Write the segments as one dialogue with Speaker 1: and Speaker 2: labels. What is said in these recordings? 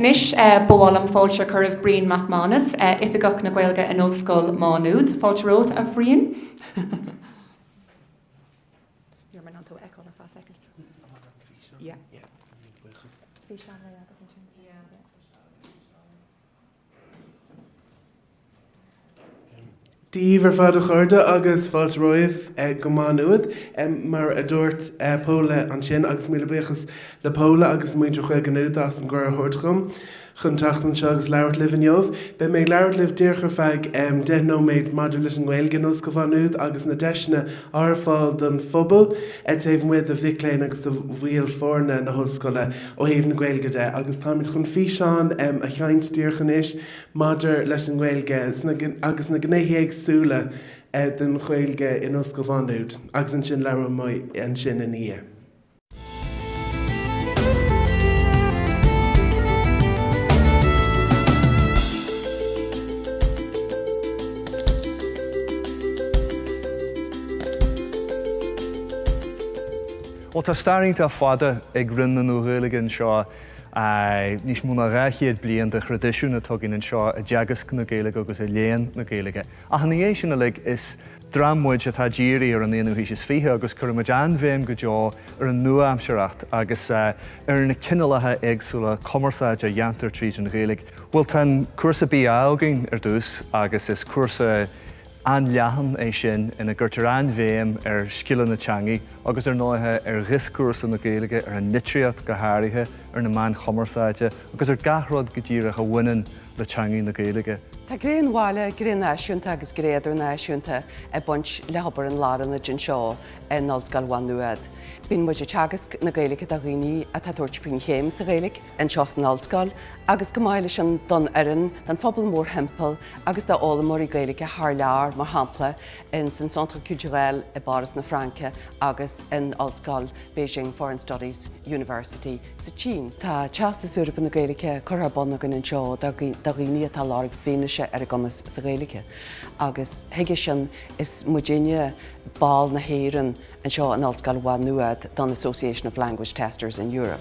Speaker 1: Anois ba mhaith liom fáilte a chur roimh Brian Mac Mánas, Oifigeach na Gaeilge in Ollscoil Má Nuad. Fáilte romhat, a Bhriain. Ní raibh mé in ann tú a fheiceáil ar feadh soicind. Bhí seanré agat ansin.
Speaker 2: Dia daoibh ar fad a chairde agus fáilte romhaibh go Má Nuad. Mar a dúirt Paula ansin, agus míle buíochas le Paula agus muintir Ghaeilge Nuada as an gcuireadh a thabhairt dhom chun teacht anseo agus labhairt libh inniu. Beidh mé ag labhairt libh díreach ar feadh deich nóiméad maidir leis an nGaeilge in Ollscoil Mhá Nuad agus na deiseanna ar fáil don phobal taobh amuigh de mhic léinn agus de bhaill foirne na hollscoile ó thaobh na Gaeilge de agus táimid chun físeán a sheinnt díreach anois maidir leis an nGaeilge agus na gnéithe éagsúla den Ghaeilge in Ollscoil Mhá Nuad agus ansin labhróidh mé ansin ina
Speaker 3: dhiaidh. Bhuel, tá stair iontach fada ag Roinn na Nua-Ghaeilge anseo. Níos mó ná dhá chéad bliain de thraidisiún atá againn anseo i dteagasc na Gaeilge agus i léann na Gaeilge. Ach ina dhiaidh sin uilig, is dream muid atá dírithe ar an aonú haois is fiche agus cuireann muid an-bhéim go deo ar an nua-aimsearthacht agus ar na cineálacha éagsúla cumarsáide a dhéantar tríd an Ghaeilge. Bhuel, tá an cúrsa BA againn ar dtús agus is cúrsa. an-leathan é sin ina gcuirtear an-bhéim ar scileanna teangaidh agus, ar ndóighe, ar dhioscúrsa na Gaeilge, ar an litríocht go háirithe, ar na meáin chumarsáide agus ar gach rud go díreach a bhaineann le teangaidh na Gaeilge. Tá gné an
Speaker 4: bhaile, gné náisiúnta agus gné idirnáisiúnta ag baint le hobair an Lárionaid anseo in Ollscoil Mhá Nuad. Bíonn muid ag teagasc na Gaeilge do dhaoine atá ag tabhairt faoin chéim sa Ghaeilge, anseo san Ollscoil agus chomh maith leis sin don fhoireann, don phobal mórthimpeall agus d'fhoghlaimeoirí Gaeilge thar lear, mar shampla in san Centre Culturel i bPáras na Fraince agus in Ollscoil Beijing Foreign Studies University sa tSín. Tá Teastas Eorpach na Gaeilge curtha ar bun againn anseo do dhaoine atá ag lorg fianaise ar a gcumas sa Ghaeilge agus chuige sin is muidinne, ball na hÉireann, anseo in Ollscoil Mhá Nuad don Association of Language Testers in Europe.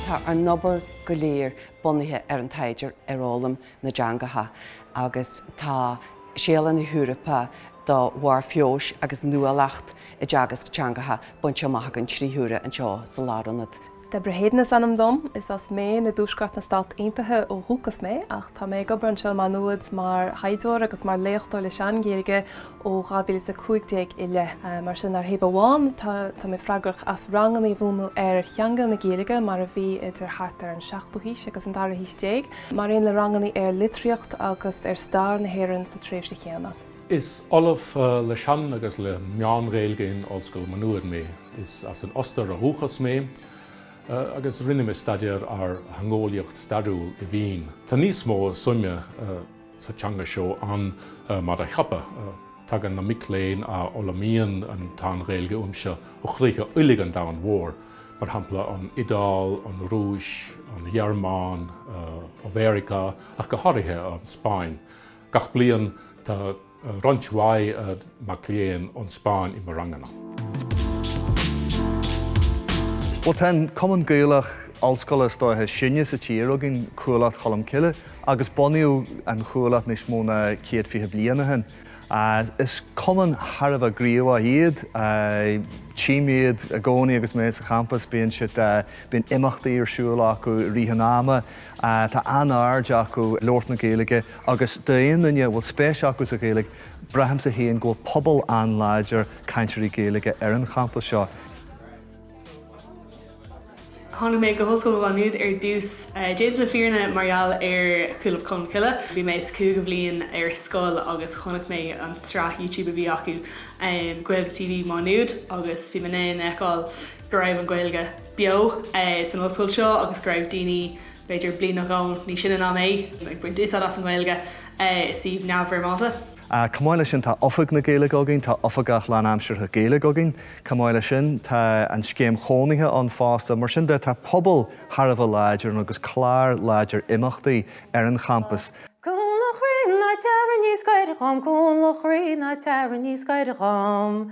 Speaker 4: Tá ár n-obair go léir bunaithe ar an taighde ar fhoghlaim na dteangacha agus tá Séala na hEorpa do Bharr Feabhais agus Nuálacht i dTeagasc Teangacha bainte amach againn trí huaire anseo sa Lárionad. Deborah Hayden is
Speaker 5: ainm dom. Is as Maine i dtuaisceart na Stát Aontaithe ó dhúcas mé, ach tá mé ag obair anseo i Má Nuad mar thaighdeoir agus mar léachtóir le Sean-Ghaeilge ó 2015 i leith. Mar sin, ar thaobh amháin, tá mé freagrach as ranganna a mhúineadh ar theanga na Gaeilge mar a bhí idir thart ar an seachtú haois agus an dara haois déag, mar aon le ranganna ar litríocht agus ar stair na hÉireann sa tréimhse chéanna. Is
Speaker 6: Ollamh le Sean agus le Meán-Ghaeilge in Ollscoil Mhá Nuad mé. Is as an Ostair ó dhúchas mé agus rinne mé staidéar ar theangeolaíocht stairiúil i Vín. Tá níos mó suime sa teanga seo ann mar a cheapadh. Tagann na mic léinn a fhoghlaimíonn an tSean-Ghaeilge uaimse ó chríocha uilig an domhain mhóir, mar shampla an Iodáil, an Rúis, an Ghearmáin, Meiriceá ach go háirithe, an Spáinn. Gach bliain tá roinnt mhaith mac léinn ón Spáinn i mo
Speaker 3: ranganna. Bhuel, tá an cumann Gaelach ollscoile is dóiche is sine sa tír againn, Cuallacht Cholm Cille, agus bunaíodh an Chuallacht níos mó ná céad fiche bliain ó shin. Is cumann thar a bheith gníomhach iad. Tchím iad i gcónaí agus mé sa champas, bíonn siad, bíonn imeachtaí ar siúl acu i rith an ama, Tá an-aird acu labhairt na Gaeilge agus d'aon duine a bhfuil spéis acu sa Ghaeilge, braithimse féin go bhfuil pobal an-láidir cainteoirí Gaeilge ar an champas seo.
Speaker 7: Tháinig mé go hOllscoil Mhá Nuad ar dtús, déanta na fírinne, mar gheall ar Chuallacht Cholm Cille. Bhí mé sa chúigiú bhliain ar scoil agus chonaic mé an tsraith YouTube a bhí acu, Gaeilge TV Mhá Nuad, agus bhí mé in ann a fheiceáil go raibh an Ghaeilge beo san ollscoil seo agus go raibh daoine, b'fhéidir bliain nó dhó níos sine ná mé ag baint úsáid as an Ghaeilge i suíomh neamhfhoirmeálta. Chomh maith le sin tá
Speaker 3: Oifig na Gaeilge againn, tá Oifigeach lánaimseartha Gaeilge againn. Chomh maith le sin tá an scéim chónaithe ann fosta. Mar sin de tá pobal thar a bheith láidir ann agus clár láidir imeachtaí ar an champas. Cúnla chroí
Speaker 8: ná teara níos gaire dhom, Cúnla chroí ná teara níos gaire dhom.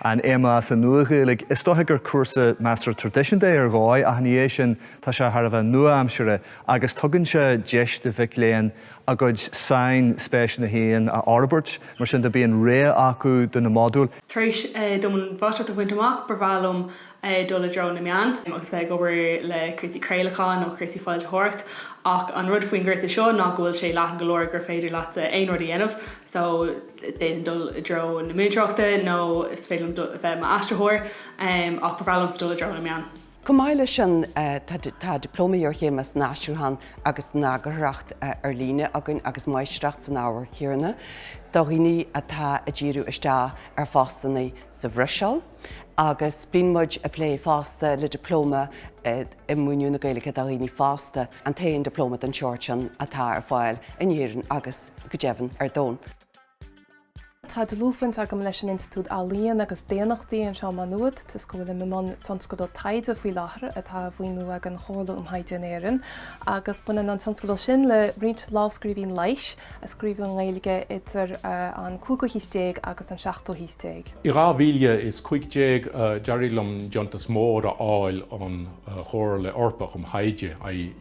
Speaker 3: an MA sa Nua-Ghaeilge. Is dóiche gur cúrsa measartha traidisiúnta é ar dhóigh ach ina dhiaidh sin tá sé thar a bheith nua-aimseartha agus tugann sé deis do mhic léinn a gcuid sainspéiseanna féin a fhorbairt mar sin de bíonn rogha acu de na modúil Tar éis dom
Speaker 7: an mháistreacht a bhaint amach ba bhreá liom dul i dtreo na meán agus bheith ag obair le cúrsaí craolacháin nó cúrsaí foilsitheoireachta ach an rud faoin gcúrsa seo ná go bhfuil sé leathan go leor gur féidir leatsa aon rud a dhéanamh so d'fhéadfainn dul i dtreo na múinteoireachta nó is féidir liom bheith i m'aistritheoir ach ba bhreá liomsa dul i dtreo na meán. Chomh maith le
Speaker 4: sin tá Dioplóma Iarchéime san Aistriúchán agus san Eagarthóireacht ar Líne againn agus Máistreacht san ábhar chéanna do dhaoine atá ag díriú isteach ar phostanna sa Bhruiséil, Agus bíonn muid ag plé fosta le Dioplóma i Múineadh na Gaeilge do Dhaoine Fásta, an t-aon Dioplóma den tseort sin atá ar fáil in Éirinn agus, go deimhin, ar domhan.
Speaker 5: Tá dlúthbhaint agam leis an Institiúid Ealaíon agus Daonnachtaí anseo i Má Nuad, toisc go bhfuilim i mbun tionscadal taighde faoi láthair atá á mhaoiniú ag an Chomhairle um Thaighde in Éirinn, agus baineann an tionscadal sin le roinnt lámhscríbhinní leighis. a scríobhadh i nGaeilge idir an cúigiú haois déag agus an seachtú
Speaker 6: haois déag. I 2015, d'éirigh liom deontas mór a fháil ón Chomhairle Eorpach um Thaighde,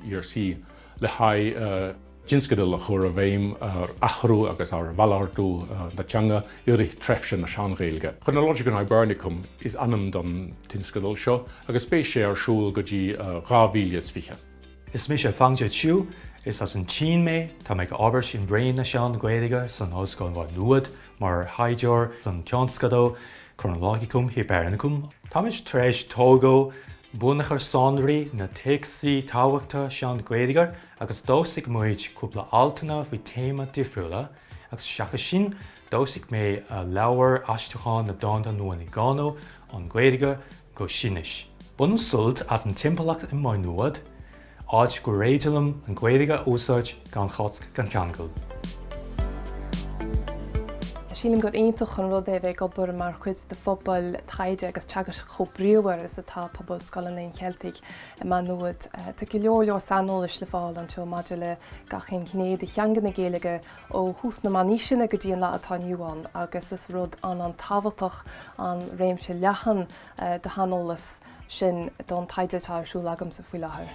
Speaker 6: ERC, le haghaidh tionscadal a chur i bhfeidhm ar athrú agus ar mhalartú na teanga i rith tréimhse na Sean-Ghaeilge. Chronologicon Hibernicum is ainm don tionscadal seo agus beidh sé ar siúl go dtí 2020. Is mise
Speaker 9: Fangzhe Qiu, is as an tSín mé. Tá mé ag obair in Roinn na Sean-Ghaeilge san Ollscoil Mhá Nuad mar thaighdeoir don tionscadal Chronologicum Hibernicum. Táimid tar éis tógáil bunachar sonraí na dtéacsaí tábhachtacha Sean-Ghaeilge agus d'fhoilsigh muid cúpla altanna faoi théama difriúla agus seachas sin d'fhoilsigh mé leabhar aistriúcháin na dánta Nuala Ní Dhomhnaill ón nGaeilge go Sínis. Bainim sult as an timpeallacht i Maigh Nuad, áit gur féidir liom an Ghaeilge a úsáid gan chosc gan cheangal.
Speaker 5: Sílim gur iontach an rud é a bheith ag obair mar chuid de phobal taighde agus teagaisc chomh bríomhar is atá pobal Scoil an Léinn Cheiltigh i Maigh Nuad. Tá go leor saineolais le fáil anseo maidir le gach aon ghné de theanga na Gaeilge, ó thús na Meánaoiseanna go dtí an lá atá inniu ann agus is rud an-an-tábhachtach an réimse leathan de shaineolas sin don taighde atá ar siúl agamsa faoi láthair.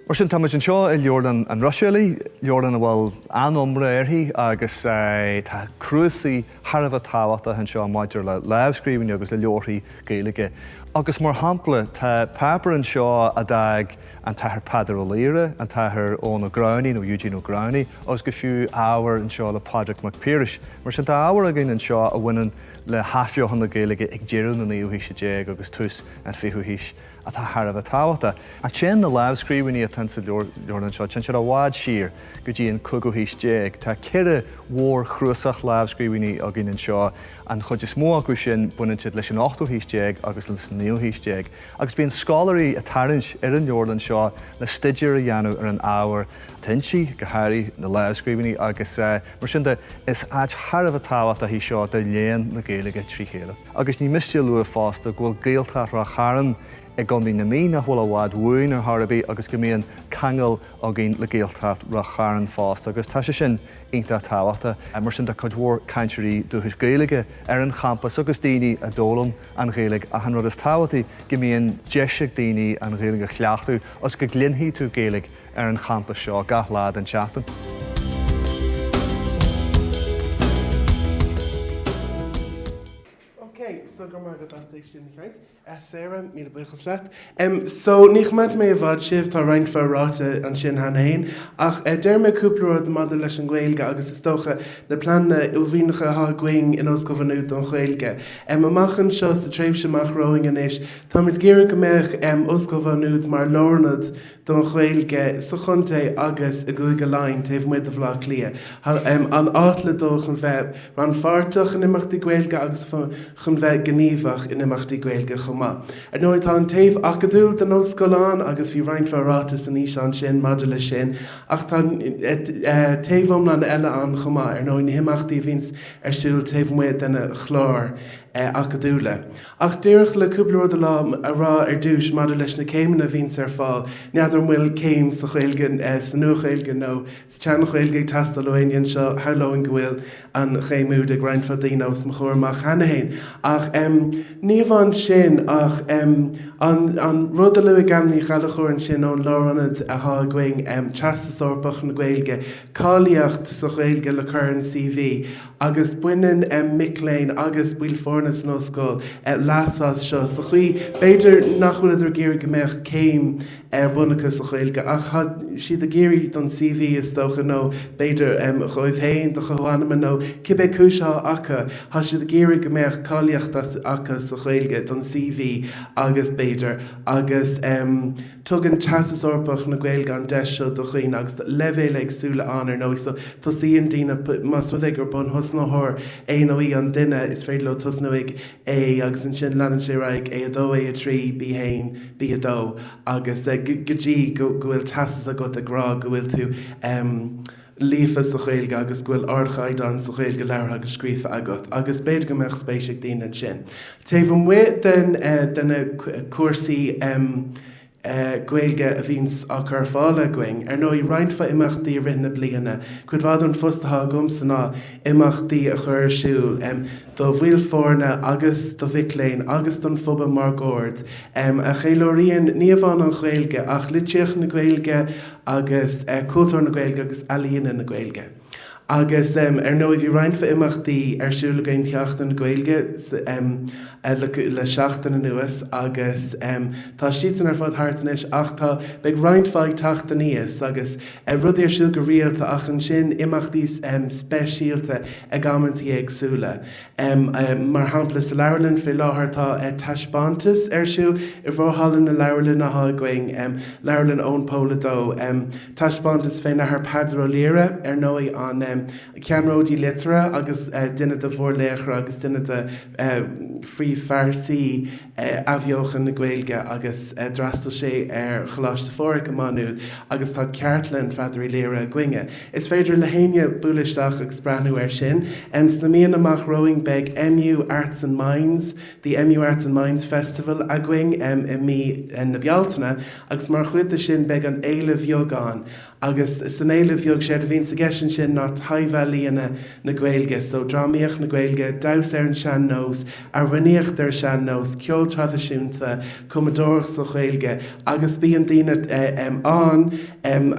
Speaker 3: Mar sin, táimid anseo i Leabharlann an Ruiséalaigh, leabharlann a bhfuil an-iomrá uirthi agus tá cnuasaigh, thar a bheith tábhachtach anseo maidir le lámhscríbhinní agus le leabharthaí Gaeilge agus, mar shampla, tá páipéir anseo a d'fhág an tAthair Peadar Ó Laoghaire, an tAthair Eoghan Ó Gramhnaigh nó Eugene O'Growney, agus go fiú ábhar anseo le Pádraig Mac Piarais. Mar sin, tá ábhar againn anseo a bhaineann le hathbheochan na Gaeilge ag deireadh na naoú haoise déag agus tús an fichiú haois. atá thar a bheith tábhachtach. Ach téann na lámhscríbhinní atá insa leabharlann seo téann siad i bhfad siar go dtí an cúigiú haois déag. Tá ceithre mhórchnuasach lámhscríbhinní againn anseo, an chuid is mó acu sin baineann siad leis an ochtú haois déag agus leis an naoú haois déag, agus bíonn scoláirí ag tarraingt ar an leabharlann seo le staidéar a dhéanamh ar an ábhar atá inti, go háirithe na lámhscríbhinní, agus mar sin de is áit thar a bheith tábhachtach í seo do léann na Gaeilge trí chéile. Agus ní miste a lua fosta go bhfuil Gaeltacht Ráth Chairn i gContae na Mí nach bhfuil i bhfad uainn ar chor ar bith agus go mbíonn ceangal againn le Gaeltacht Ráth Chairn fosta agus tá sé sin iontach tábhachtach. Mar sin tá cuid mhór cainteoirí dúchais Gaeilge ar an champas agus daoine a d'fhoghlaim an Ghaeilge ach an rud is tábhachtaí go mbíonn deis ag daoine an Ghaeilge a chleachtadh agus go gcluinfidh tú Gaeilge ar an champas seo gach lá den
Speaker 2: tseachtain. So go raibh maith agat, Sarah, míle buíochas leat. So, ní choimeádfaidh mé i bhfad sibh, tá roinnt mhaith ráite ansin cheana féin, ach déarfaidh mé cúpla rud maidir leis an nGaeilge agus is dócha na pleananna uaillmhianacha atá againn in Ollscoil Mhaigh Nuad don Ghaeilge. Amach anseo, sa tréimhse amach romhainn anois, táimid ag iarraidh go mbeadh Ollscoil Mhaigh Nuad mar lárionad don Ghaeilge sa chontae agus i gCúige Laighean taobh amuigh de Bhleá Cliath. An áit le dul chun bheith rannpháirteach in imeachtaí Gaeilge agus chun bheith gníomhach in imeachtaí Gaeilge chomh maith. Ar ndóigh, tá an taobh acadúil den ollscoil ann agus bhí roinnt mhaith ráite san fhíseán sin maidir leis sin ach tá taobh iomlán eile ann chomh maith, ar ndóigh, na himeachtaí a bhíonns ar siúl taobh amuigh de na cláir acadúla. Ach díreach le cúpla rud a lá a rá ar dtúis maidir leis na céimeanna a bhíonns ar fáil, n'fheadar an bhfuil céim sa Ghaeilge, sa Nua-Ghaeilge nó sa tSean-Ghaeilge ag teastáil ó éinne anseo, shamhlóinn go bhfuil an chéim úd ag roinnt mhaith daoine os mo chomhair amach cheana féin, ach em ní amháin sin ach em an an rud a luaigh Anna Ní Ghallchobhair ansin ón Lárionad athá againn, em Teastas Eorpach na Gaeilge, cáilíocht sa Ghaeilge le cur ar an CV, agus baineann mic léinn agus baill foirne san Ollscoil leas as seo sa chaoi, b'fhéidir, nach bhfuil siad ag iarraidh go mbeadh céim ar bun acu sa Ghaeilge ach tá siad ag iarraidh don CV, is dócha, nó b'fhéidir dhóibh féin, dá gcuid suime nó cibé cúis atá acu, tá siad ag iarraidh go mbeadh cáilíocht acu sa Ghaeilge don CV agus b'fhéidir, agus em. Tugann Teastas Eorpach na Gaeilge an deis seo do dhaoine agus leibhéil éagsúla ann ar ndóigh so tosaíonn daoine, más rud é gur bunthosnaitheoir é nó í an duine, is féidir leo tosnú ag A agus ansin leanann sé ar aghaidh, A2, A3, B1, B2 agus go dtí go bhfuil teastas agat ag rá go bhfuil tú. líofa sa Ghaeilge agus go bhfuil ardchaighdeán sa Ghaeilge labhartha agus scríofa agat, agus b'fhéidir go mbeadh spéis ag daoine ansin. Taobh amuigh den de na cúrsaí Gaeilge a bhíonns á gcur ar fáil againn, ar ndóigh, roinnt mhaith imeachtaí i rith na bliana, cuid mhaith den phost atá agamsa ná imeachtaí a chur ar siúl do bhaill foirne agus do mhic léinn agus don phobal máguaird, a cheiliúraíonn ní amháin an Ghaeilge ach litríocht na Gaeilge, agus Cúltúr na Gaeilge agus Ealaíona na Gaeilge. Agus ar ndóigh bhí roinnt mhaith imeachtaí ar siúl againn do Sheachtain na Gaeilge le seachtain anuas agus tá siad san ar fad thart anois ach tá, beidh roinnt mhaith ag teacht aníos agus rudaí ar siúl go rialta ach ansin imeachtaí speisialta ag amantaí éagsúla. Mar shampla, sa Leabharlann fé láthair tá taispeántas ar siúl i bhforhalla na leabharlainne athá againn, Leabharlann Eoin Pól a Dó. Taispeántas fén Athair Peadar Ó Laoghaire, ar ndóigh, an ceannródaí liteartha agus duine de mhórlaochra agus duine de phríomhphearsaí. athbheochan na Gaeilge agus d'fhreastail sé ar Choláiste Phádraig i Maigh Nuad agus tá cartlann Pheadair Uí Laoghaire againne. Is féidir le héinne bualadh isteach agus breathnú air sin. Sna míonna amach romhainn beidh MU Arts and Minds, The MU Arts and Minds Festival againn i mí na Bealtaine agus mar chuid de sin beidh an Fhéile Bheag ann, agus san Fhéile Bheag, séard a bhíonns i gceist ansin ná taibhealaíona na Gaeilge, so drámaíocht na Gaeilge, damhsa ar an sean-nós, amhranaíocht ar an sean-nós, ceol traidisiúnta, cumadóireacht sa Ghaeilge, agus bíonn daoine ann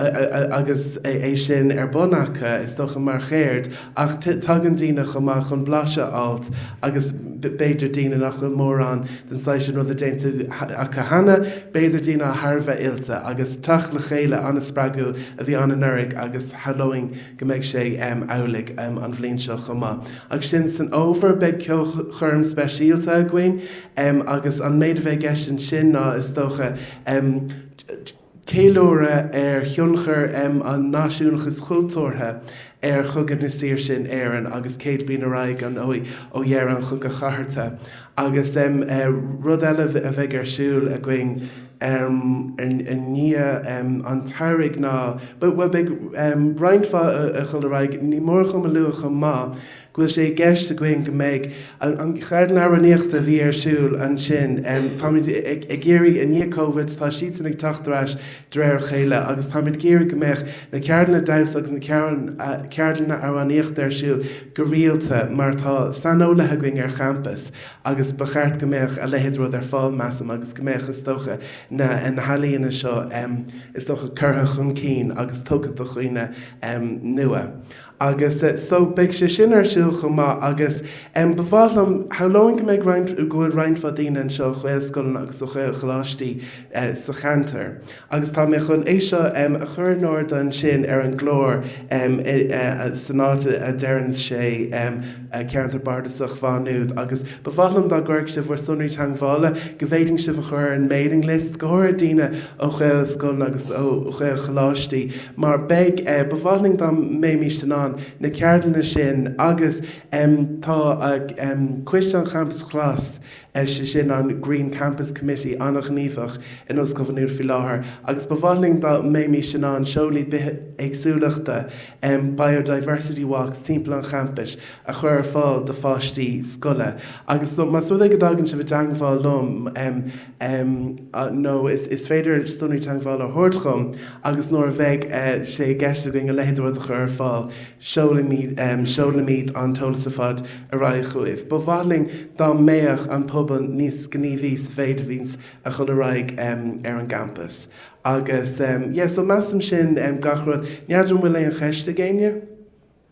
Speaker 2: agus é sin ar bun acu, is dócha, mar cheird. Ach tagann daoine chomh maith chun blaiseadh a fháilt agus b'fhéidir daoine nach bhfuil mórán den saghas sin ruda déanta acu cheana, b'fhéidir daoine atá thar a bheith oilte. Agus teacht le chéile an-spreagúil a bhí ann anuraidh agus shamhlóinn go mbeidh sé amhlaidh an bhliain seo chomh maith. Agus ansin san fhómhar beidh ceolchoirm speisialta againn agus an méid a bheidh i gceist ansin ná is dócha, Ceiliúradh ar thionchar an náisiúnachais chultúrtha ar Chogadh na Saoirse in Éirinn agus céad bliain ar aghaidh ar ndóigh ó dheireadh an Chogaidh Chathartha. Agus rud eile a bheidh ar siúl againn i ndiaidh an tsamhraidh ná, bhuel, beidh roinnt mhaith a dhul ar aghaidh, ní mór dhom a lua chomh maith, go bhfuil sé i gceist againn go mbeidh an Cheardlann Amhránaíochta a bhí ar siúl ansin, táimid ag iarraidh i ndiaidh Covid, tá siadsan ag teacht ar ais de réir a chéile agus táimid ag iarraidh go mbeadh na ceardlanna damhsa agus na ceardlanna amhránaíochta ar siúl go rialta mar tá saineolaithe againn ar champas agus ba cheart go mbeadh a leithéid de rud ar fáil, measaim, agus go mbeadh, is dócha, na healaíona seo, is dócha, curtha chun cinn agus tugtha do dhaoine nua. Agus so, beidh sé sin ar siúl chomh maith. Agus em ba mhaith liom, shamhlóinn go mbeidh roinnt, go bhfuil roinnt mhaith daoine anseo ó Ghaelscoileanna agus ó Ghaelcholáistí eh sa cheantar. Agus tá mé chun é seo em a chur in airde ansin ar an gclár em i eh san áit a a deireann sé em eh Ceantar Bardasach Mhá Nuad. Agus ba mhaith liom dá gcuirfeadh sibh bhur sonraí teangmhála, go bhféadfainn sibh a chur ar an mailing list, go háirid daoine ó Ghaelscoileanna agus ó Ghaelcholáistí. mar beidh, ba mhaith linn dá mbeimis in ann na ceardlanna sin agus tá Coiste an Champais Ghlas, sé sin an Green Campus Committee, an-ghníomhach in Ollscoil Mhá Nuad faoi láthair agus ba mhaith linn dá mbeimis in ann siúlóidí bithéagsúlachta, biodiversity walks, timpeall an champais a chur ar fáil do pháistí scoile agus más rud é go dtagann sibh i dteangmháil liom, nó is féidir sonraí teagmhála a thabhairt chugam agus nuair a bheidh sé i gceist againn a leithéid de rud a chur ar fáil, so seolfaimid an t-eolas ar fad ar aghaidh chugaibh. Ba mhaith linn dá mbeadh an pobal níos gníomhaí sa mhéid a bhíonns a dhul ar aghaidh ar an gcampas. Agus, yeah, so measaim sin gach rud. N'fheadar an bhfuil aon cheist ag éinne?